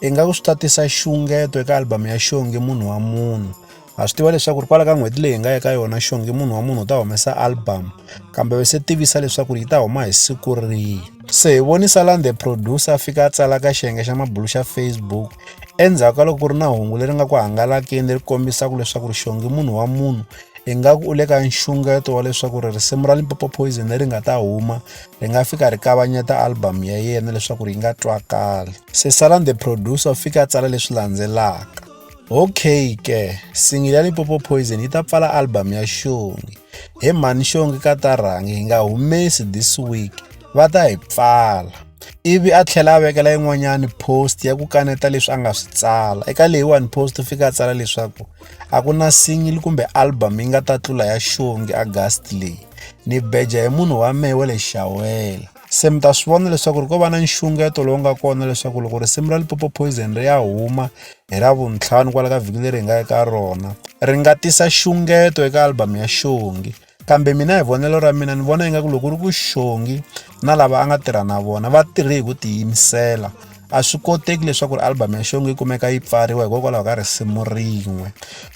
Ingaku swi ta tisa xungeto eka album ya Xongi munhu wa munhu. Ha swi tiva leswaku ri kwala ka n'hweti leyi hi nga eka yona Xongi munhu wa munhu u ta humesa album kambe se tivisa leswaku yi ta huma hi siku rihi. Se hi vonisa laha the producer a fika a tsala ka xiyenge xa mabulu xa Facebook endzhaku ka loko ku ri na hungu leri nga ku hangalakeni leri kombisaka leswaku ri Xongi munhu wa munhu ingaku u le ka nxungeto wa leswaku ri risimu ra Limpopo Poison leri nga ta huma ri nga fika ri kavanyeta album ya yena leswaku ri yi nga twakali. Sesalan the producer u fika a tsala leswi landzelaka okay ke singili ya lipopo poison yi ta pfala album ya xongi he mhani xongi ka ta rhangi hi nga humesi this week va ta hi pfala ivi a tlhela a vekela yin'wanyani post ya ku kaneta leswi a nga swi tsala eka leyiwani post u fika a tsala leswaku a ku na singili kumbe album yi nga ta tlula ya xongi agast leyi ni beja hi munhu wa mehe wa le xawela se mi ta swi vona leswaku ri ko va na nxungeto lowu nga kona leswaku loko risimu ra lipopo poison ri ya huma hi ravuntlhanu kwala ka vhiki leri hi nga eka rona ri nga tisa xungeto eka albhamu ya xongi kambe mina hi vonelo ra mina ni vona ingaku loko ri ku xongi na lava a nga tirha na vona va tirhe hi ku tiyimisela A swi koteki leswaku ri album ya Xongi yi kumeka yi pfariwa hikokwalaho ka risimu rin'we.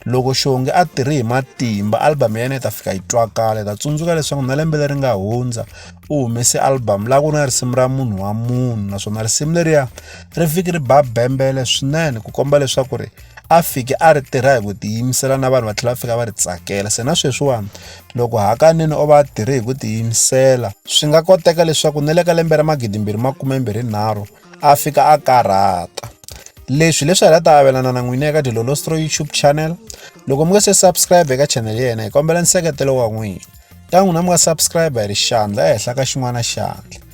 Loko Xongi a tirhe hi matimba, album ya yena yi ta fika yi twakala. Hi ta tsundzuka leswaku na lembe leri nga hundza u humese album laha ku ri na risimu ra munhu wa munhu naswona risimu leriya ri fiki ri ba bembele swinene ku komba leswaku ri a fike a ri tirha hi ku tiyimisela na vanhu va tlhela va fika va ri tsakela se na sweswiwani loko hakanene o va a tirhe hi ku tiyimisela swi nga koteka leswaku ni le ka lembe ra magidimbirhi makumembirhi nharhu a fika a karhata leswi leswi hi la ta avelana na n'wina eka dilolostro youtube channel loko mi nga se subscribe eka channel ya yena hi kombela nseketelo wa n'wina ta n'wina mi nga subscribe hi ri xandla ehenhla ka xin'wana xandla